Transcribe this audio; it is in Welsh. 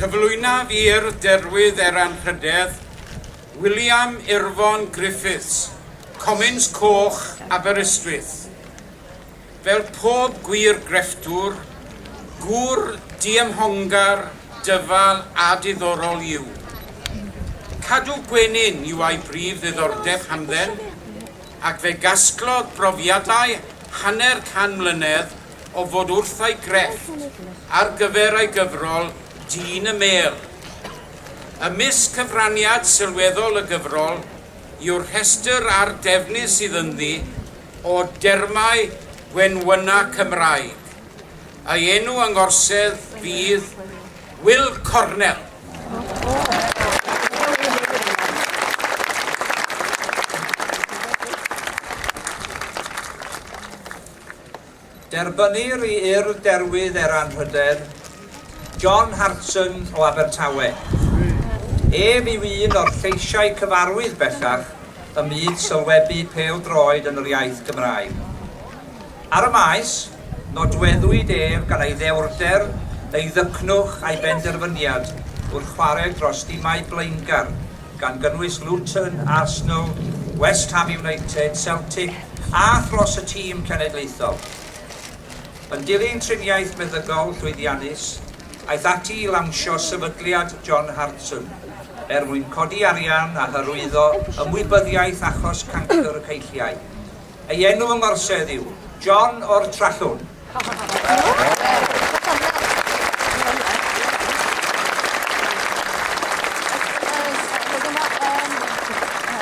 Cyflwynaf i'r Derwydd er Anrhydedd, William Irfon Griffiths, Comins Coch, Aberystwyth. Fel pob gwir grefftwr, gŵr diymhongar, dyfal a diddorol yw. Cadw gwenyn yw a'i brif ddiddordeb hamdden, ac fe gasglodd brofiadau hanner can mlynedd o fod wrth ei grefft ar gyfer ei gyfrol Dyn y Mêl. Ymysg cyfraniad sylweddol y gyfrol yw'r rhestr arddefnus sydd ynddi o dermau gwenwyna Cymraeg. Ei enw yng ngorsedd fydd Wil Cornel. Derbynnir i Urdd Derwydd er Anrhydedd, John Hartson o Abertawe. Ef yw un o'r lleisiau cyfarwydd bellach ym myd sylwebu pêl-droed yn yr iaith Gymraeg. Ar y maes, nodweddwyd ef gan ei ddewrder, ei ddycnwch a'i benderfyniad wrth chwarae dros dimau blaengar, gan gynnwys Luton, Arsenal, West Ham United, Celtic a thros y tîm cenedlaethol. Yn dilyn triniaeth meddygol llwyddiannus, aeth ati i lawnsio sefydliad John Hartson er mwyn codi arian a hyrwyddo ymwybyddiaeth achos cancr y ceilliau. Ei enw yng ngorsedd yw John o'r Trallwng.